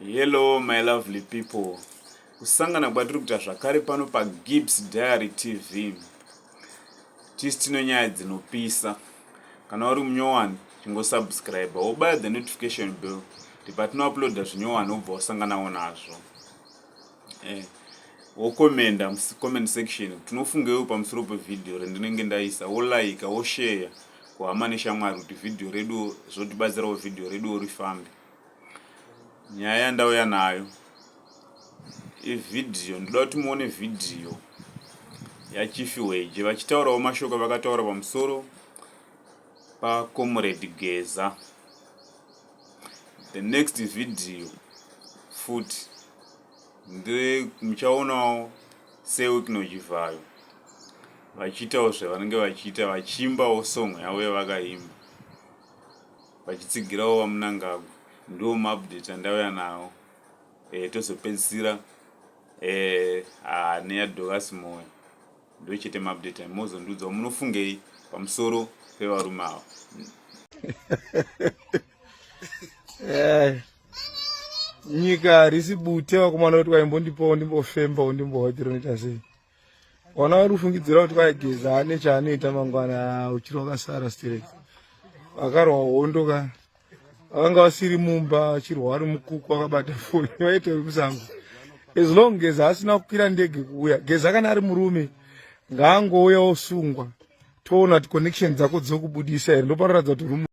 Hello my lovely people, kusangana kwatiri kuita zvakare pano paGibbs Diary TV. Tisi tino nyaya dzinopisa. Kana uri munyowani, chingosubscribe, wobaya the notification bell kuti patinouploada zvinyowani wobva wasanganawo nazvo. eh, wokomenda mucomment section kuti tinofungeiwo pamusoro pevhidhiyo rendinenge ndaisa wolaika wosheya kuhama neshamwari kuti vhidhiyo reduwo zvotibatsirawo vhidhiyo reduwo rifambe nyaya yandauya nayo ivhidhiyo ndoda kuti muone vhidhiyo yachifi weje vachitaurawo mashoko vakataura pamusoro pakomuredi geza the next video futi nde muchaonawo sewikno chivhayo vachiitawo zvavanenge vachiita vachiimbawo song yavo yavakaimba vachitsigirawo vamunangagwa ndiwo maupdate andauya nawo e, tozopedzisira e, eh, ah, neyadhokasi moyo ndochete maupdate ayo mozondiudzawo munofungei pamusoro pevarume ava eh, nyika harisi bute vakomana kuti waimbondipawo ndimbofembawo ndimbohotira unoita sei ona uri kufungidzira kuti kwaigeza ane chaanoita mangwana uchiri wakasara straight vakarwa hondo ka vanga vasiri mumba achirwa ari mukuku akabata foni vaita vekusango as long geza asina kukwira ndege kuuya geza kana ari murume ngaangouya osungwa toona kuti connection dzako dzokubudisa here ndoparoratidza kuti rume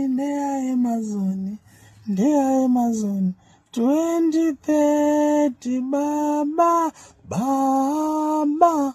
ndeaemazoni ndeaemazoni 2030 baba baba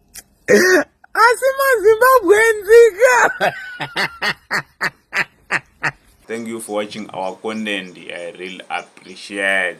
asi mazimbabwe nzika thank you for watching our content i really appreciate